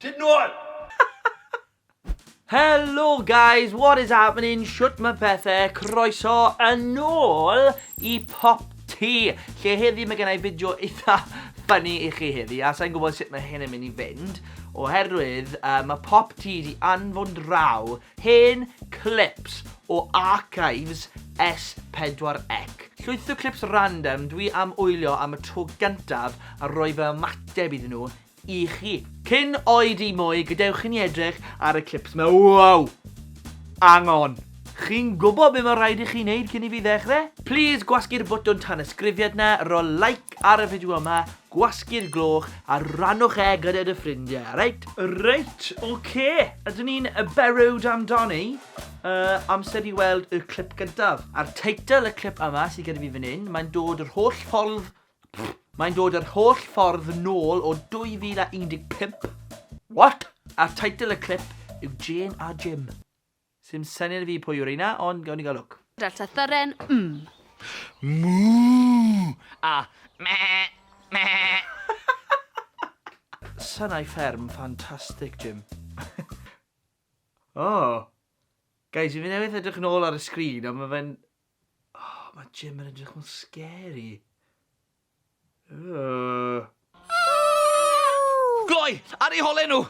Tyd nôl! Hello guys, what is happening? Shwt mae pethau? Croeso yn ôl i Pop Tea, lle heddi mae gennau fideo eitha ffynnu i chi heddi, a sa'n gwybod sut mae hyn yn mynd i fynd, oherwydd uh, mae Pop Tea di anfon draw Hen clips o archives S pedwar ec. Llwyth o clips random dwi am wylio am y tro gyntaf a roi fy ymateb iddyn nhw i chi. Cyn oed i mwy, gadewch i ni edrych ar y clips 'ma. Wow! Angon! Chi'n gwybod be mae rhaid i chi wneud cyn i fi ddechrau? Plis gwasgu'r botwm tanysgrifiad 'na, rho like ar y fideo yma, Gwasgu'r gloch a rannwch e gyda dy ffrindie, reit? Reit, ok! Ydyn ni'n barod amdani? Yy, amser i weld y clip gyntaf. A'r teitl y clip yma sydd gyda fi fan hyn, mae'n dod yr holl ffordd... Mae'n dod yr holl ffordd nôl o 2015. What? A'r teitl y clip yw Jane a Jim. Sim syniad i fi pwy yw reina, ond gawn ni gael lwc. Delta Thyren, mm. Moo! A meh! Meh! Synau fferm ffantastig, Jim. O! Guys, fi newydd edrych nôl ar y sgrin a ma' fe'n... O, ma' Jim yn edrych mor scary. Gloi! Ar eu hole nhw!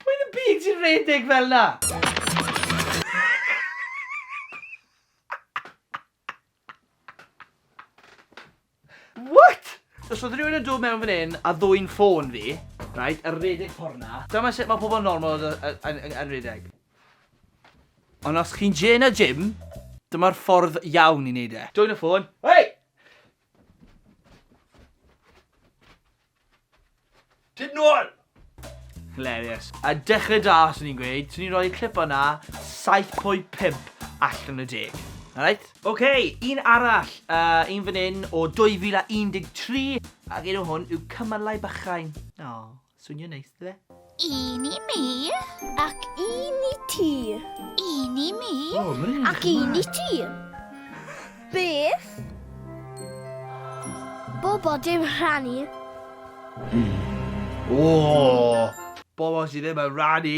Pwy yn y byd sy'n rhedeg fel 'na? What?! Os oedd rhywun yn dod mewn fan hyn a ddwyn ffôn fi, reit, a rhedeg ffordd 'na, dyma sut mae pobl normal yn rhedeg. Ond os chi'n Jay na Jim, dyma'r ffordd iawn i wneud e. Dwyn y ffôn. Hei! Tyd nôl! Hilarious. A dechrau da, swn i'n gweud, swn i'n rhoi y clip o'na 7.5 allan y deg. Alright? Oce, okay, un arall, uh, un fan hyn o 2013, ac un o hwn yw Cymalau Bychain. O, swnio'n neis, dde? Un i mi. Ac un i ti. Un i mi. Oh, Ac un i ti. Beth? Bobo dim rhannu. O! Bobo sydd ddim yn rhannu.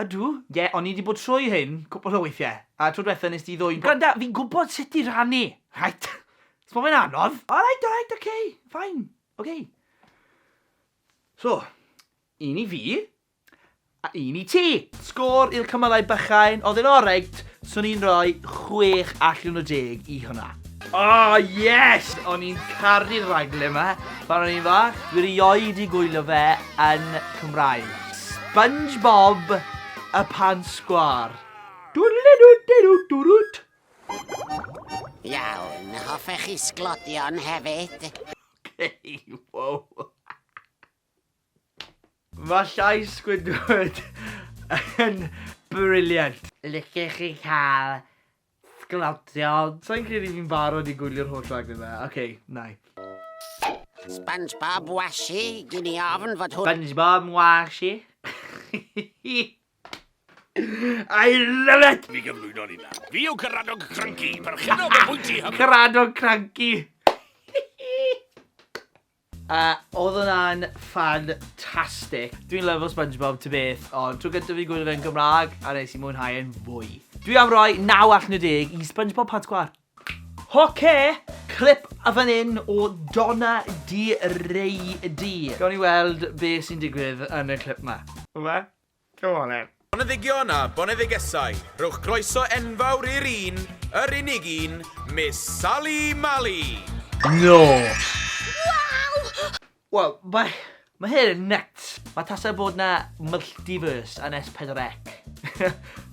Ydw, ie, o'n i 'di bod trwy hyn cwpl o weithiau, a tro dwetha nes di ddwyn po-. Gwranda, fi'n gwybod sut i rannu, reit? Os ma fe'n anodd. Alright, alright, ok, fine, ok. So, un i fi, a un i ti. Sgôr i'r cymalau bychain, oedd e'n oreit, Swn i'n rhoi chwech allan o deg i hwnna. Oh yes! O'n i'n caru'r raglen yma pan o'n i'n fach. Dwi rioed i gwylio fe yn Cymraeg. SpongeBob y pan sgwâr. Dwdlidwdidwdwdwt. Iawn, hoffech chi sglodion hefyd? Wow. Mae llais Squidward yn brilliant. Licech chi cael sglodion? Sa i'n credu fi'n barod i gwylio'r holl raglen ma. Ok, nai. Spongebob washi, gin i ofn fod hwn... Spongebob washi. I love it! Mi gyflwyno ni nawr. Fi yw Caradog Cranky, perchennog y bwyty hyfryd. Caradog Cranky! A oedd hwnna'n ffantastig. Dwi'n lyfo Spongebob ta beth, ond tro gyntaf fi'n gwylio fe'n Gymraeg a nes i mwynhau e'n fwy. Dwi am roi 9 allan o 10 i Spongebob Pad Sgwâr. Ok! Clip fan hyn o Donna Di Rei Di. Gawn ni weld be sy'n digwydd yn y clip 'ma. Rwbeth? Go on then. Boneddigion a boneddigesau, rhowch groeso enfawr i'r un, yr unig un, Miss Sali Mali! Nos! Wel, mae, mae hyn yn nyts! Mae tasa bod 'na multiverse yn S4C.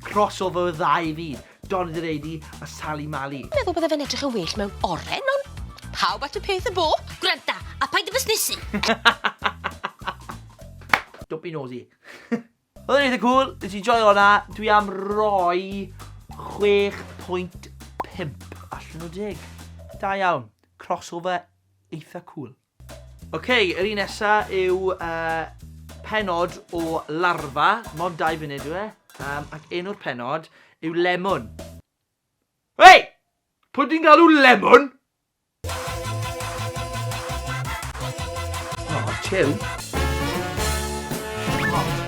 Crossover y ddau fyd. Don the Lady a Sali Mali. Meddwl bydde fe'n edrych yn well mewn oren, ond pawb at y peth y bo. Gwranda, a paid â busnesu! Don't be nosy. Oedd yn eitha cool, nes i joio hwnna, dwi am roi 6.5 allan o 10. Da iawn, crossover eitha cool. Ok, yr un nesa yw uh, penod o larfa, mond dau funud yw e, um, ac enw'r penod yw lemon. Hei! Pwy di'n galw lemon? O, oh, chill. O, oh,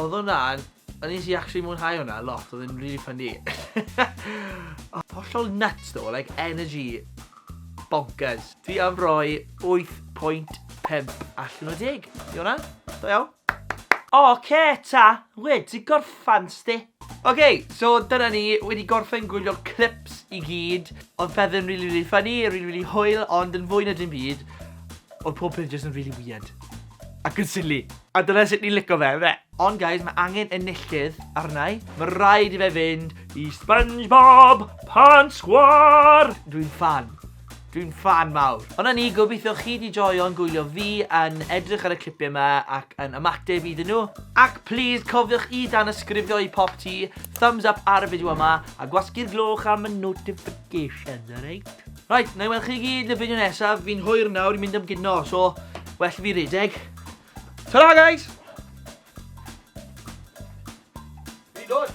Odd hwnna'n, o'n nes i actually mwynhau hwnna lot, odd e'n rili ffyni. Odd hollol nyts ddo, like energy bonkers. Fi am roi 8.5 allan o 10 i hwnna. Da iawn. Ok ta, wedi gorffan sti. Ok, so dyna ni, wedi gorffen gwylio'r clips i gyd. Odd pethe yn rili rili ffyni, rili rili hwyl, ond yn fwy na dim byd, odd pob peth jyst yn rili weird. Ac yn silly. A dyna sut ni'n lico fe, yfe? Ond guys, mae angen enillydd arna i. Mae rhaid i fe fynd i Spongebob Pan Sgwar! Dwi'n fan. Dwi'n fan mawr. Ond na ni, gobeithio chi di joio'n gwylio fi yn edrych ar y clipiau yma ac yn ymateb iddyn nhw. Ac please, cofiwch i dan ysgrifio i pop ti, thumbs up ar y fideo yma, a gwasgu'r gloch am y notifications, alright? Reit, na i weld chi i gyd yn y fideo nesaf, fi'n hwyr nawr i mynd am gino, so well i fi redeg. Ta-ra guys! Fi'n dod!